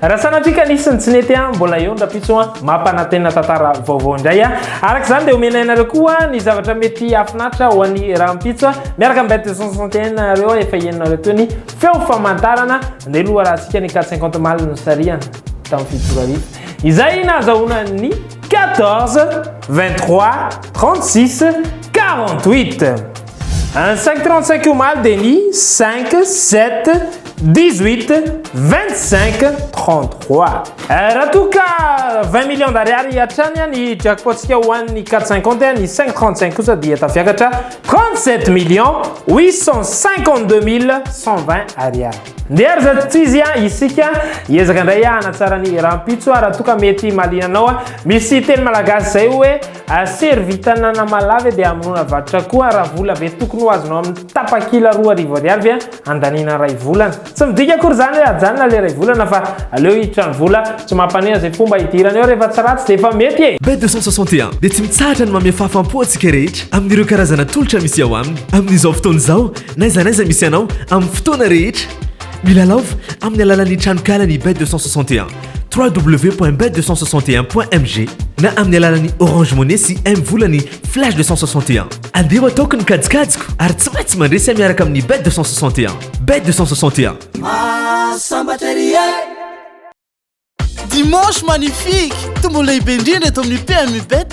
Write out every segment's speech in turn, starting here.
Raha sanatria ka nisy ny tsy nety a, mbola eo ny rapitso a, mampanantena tantara vaovao indray a. Araka izany dia omenay anareo koa ny zavatra mety hahafinaritra ho an'ny rahampitso a. Miaraka amin'ny bête de 161 nareo efa henonareo teo ny feo famantarana ny loharahantsika ny 450 mal nosarihana tamin'ny fitopolo arivo izay nahazahoana ny 14, 23, 36, 48. Any cinq trente cinq omaly dia ny cinq, sept, dix huit, vingt cinq, trente trois. Eh, raha toa ka vingt millions d'ariary hatrany ny jackpot-tsika ho an'ny quatre cinquante, ny cinq trente cinq kosa dia tafiakatra trente sept millions huit cent cinquante deux mille cent vingt ariary. Ndeha ry zatotsizy a, isika hiezaka indray hanatsara ny rahampitso raha toa ka mety mahaliana anao. Misy teny malagasy izay hoe. A Servita Nanamalaho ve dia hamonoana varotra koa raha vola be tokony ho azonao amin'ny tapakila roa arivo ariary ve handaniana iray volana? Tsy midika akory izany hoe hajanona ilay iray volana fa aleo hiditra ny vola, tsy mampaneha izay mpomba hidirana eo rehefa tsy ratsy dia efa mety e! Be deux cent soixante et un dia tsy mitsahatra ny mamehy fahafam-po antsika rehetra amin'ireo karazana tolotra misy ao aminy amin'izao fotoana izao n'aiza n'aiza misy anao amin'ny fotoana rehetra. Milalaova amin'ny alalan'ny tranonkalan'i Be deux cent soixante et un. www.bet261.mg na amin'ny alalan'ny Orange Money sy M volany Flash 261. Andeha ho ataoko ny kajikajiko ary tsy maintsy mandresy ahy miaraka amin'ny Bet 261. Bet 261. Mahasambatra ery e! Dimanche magnifique! Tombola lehibe indrindra eto amin'ny PMU Bet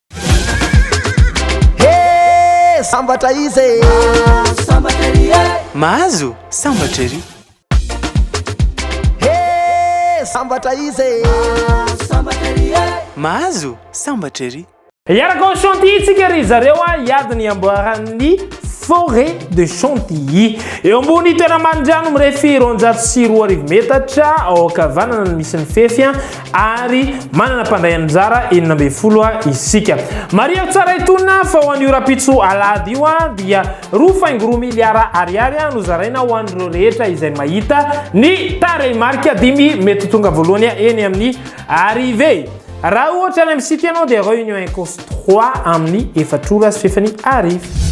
Hee sambatra izy e! Mahazo sambatra ery e! Mahazo sambatra ery! Hee sambatra izy e! Mahazo sambatra ery e! Mahazo sambatra ery! Hiaraka ao Chantilly tsika ry zareo a, hiady ny amboaran'ny Forêt de Chantilly. Eo ambony toera-manindrano mirefy roanjato sy roa arivo metatra, ao ankavanana no misy ny fefy, ary manana mpandray anjara enina ambin'ny folo isika. Marihako tsara itony fa ho an'io rahampitso alahady io dia roa faingo roa miliara ariary no zaraina ho an'ireo rehetra izay mahita ny tarehimarika dimy mety ho tonga voalohany eny amin'ny arrivée. Raha ohatra any amin'ny site ianao dia réunion incourse trois amin'ny efatra ora sy fahefany arivo.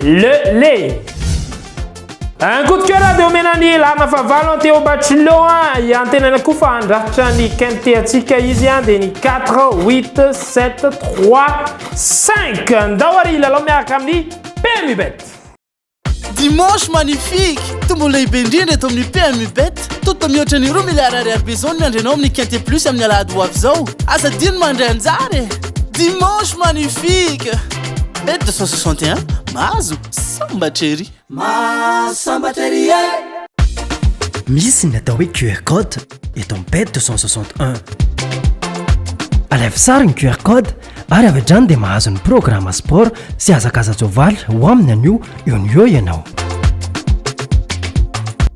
Le le Un coup de cœur dia omena ny Larina Fahavalo an Théo Bachelot an i antenaina koa fa handrafitra ny quintet antsika izy an dia ny 4 8 7 3 5 ndao ary hilalao miaraka amin'ny PMU Bet Dimanche magnifique, tombola lehibe indrindra eto amin'ny PMU Bet. Toto mihoatra ny roa miliara ariary be izao ny miandrenao amin'ny Quintet Plus amin'ny alahady ho avy izao. Aza adino mandray anjara e! Dimanche magnifique! Bet 261, mahazo sambatra ery! Mahazo sambatra ery e! Misy ny atao hoe QR code eto amin'ny Bet 261. Alaivo sary ny QR code ary avy hatrany dia mahazo ny programme sport sy hazakaza-tsoavaly ho amin'ny anio eo no eo ianao.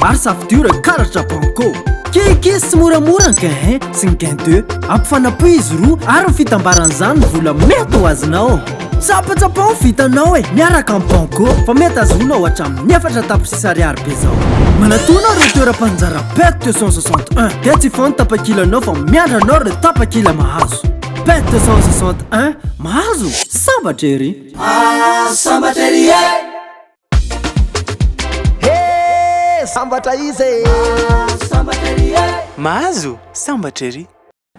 Maro safidio reo karatra banco Keke sy moramora ny gain 1 sy ny gain 2 Ampifanapohy izy roa ary ny fitambaran'izany ny vola mety ho azonao Tsapatsapao ny vitanao e miaraka amin'ny banco Fa mety azonao hatramin'ny efatra tapitrisa ariary be zao Manatona reo toeram-panjara pet 261 Dia tsy hifoha ny tapakilanao fa miandry anao reo tapakila mahazo Pet 261 Mahazo? Sambatra ery! Mahazo sambatra ery e! Hee sambatra izy e! Mahazo sambatra ery e! Mahazo sambatra ery!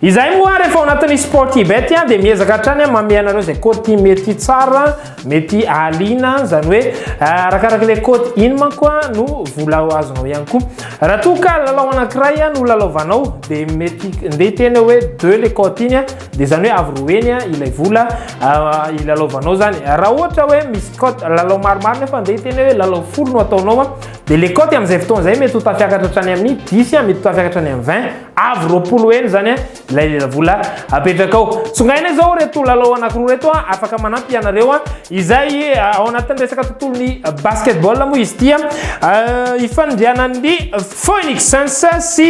Izahay moa ary efa ao anatin'ny Sportybet dia miezaka hatrany mamehy anareo izay côte mety tsara, mety ahaliana, izany hoe eh, arakaraka ilay côte iny manko no vola ho azonao ihany koa. Raha toa ka lalao anankiray no lalaovanao dia mety ndeha hiteny hoe deux le côte iny Dia izany hoe avy roa heny ilay vola hilalaovanao izany. Raha ohatra hoe misy cote lalao maromaro nefa andeha hiteny hoe lalao folo no ataonao, dia le cote amin'izay fotoana izay mety ho tafiakatra hatrany amin'ny 10, mety ho tafiakatra hatrany amin'ny 20, avy roapolo heny izany ilay vola apetrakao. Tsongaina izao ireto lalao anankiroa ireto afaka manampy ianareo, izay ao anatin'ny resaka tontolon'ny basketball moa izy ity, ifanindrianan'ny Phoenix Suns sy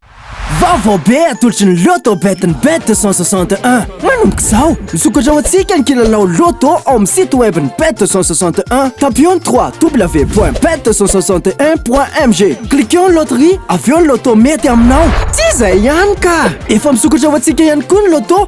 Vaovao be atolotry ny Lotto Bet ny Bet 261. Manomboka izao, misokatra ho antsika ny kilalao Lotto ao amin'ny site web ny Bet 261. Tapio ny www.bet261.mg. Cliqueo ny loterie, avy eo ny Lotto mety aminao. Tsy izay ihany ka! Efa misokatra ho antsika ihany koa ny Lotto.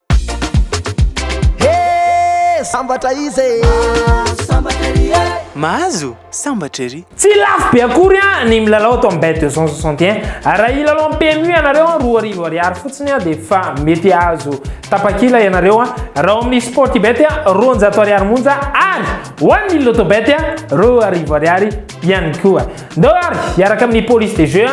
Hee sambatra izy e! Mahazo sambatra ery e! Mahazo sambatra ery! Tsy lafo be akory an ny milalao ato amin'ny Bet deux cent soixante et un. Raha hilalao amin'ny PMU ianareo an, roa arivo ariary fotsiny an dia efa mety hahazo tapakila ianareo an. Raha ao amin'ny Sportybet an, roanjato ariary monja ary ho an'ny Lotobet an, roa arivo ariary. ihany koa. Ndao ary hiaraka amin'ny police de jeu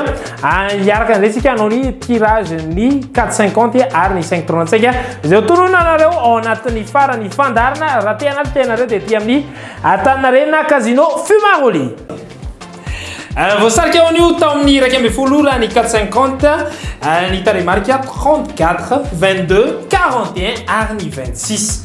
hiaraka indray tsika hanao ny tirage ny 450 ary ny 5 trône antsika izay tonona anareo ao anatin'ny farany fandarina raha te anaty tenareo dia ety amin'ny Antaninarenina Casino Fumaroli. Euh, voasarika ho an'io tao amin'ny iraika ambin'ny folo ora ny 450 euh, ny tarehimarika 34 22 41 ary ny 26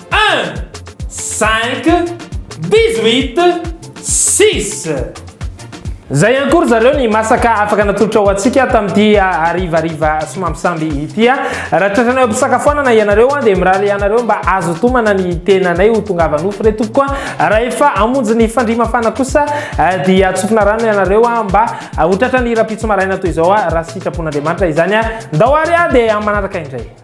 Un, cinq, dix-huit, six. Zay ihany koa ry zareo ny masaka afaka natolotra ho antsika tamin'ity harivariva somambisamby ity. Raha tratranay am-pisakafoanana ianareo dia mirary ianareo mba azo tomana ny tenanay ho tongava nofo re tompoko. Raha efa hamonjy ny fandria mafana kosa dia atsofina rano ianareo mba ho tratran'ny rahampitso maraina toy izao raha sitrapon'Andriamanitra izany. Ndao ary dia amin'ny manaraka indray.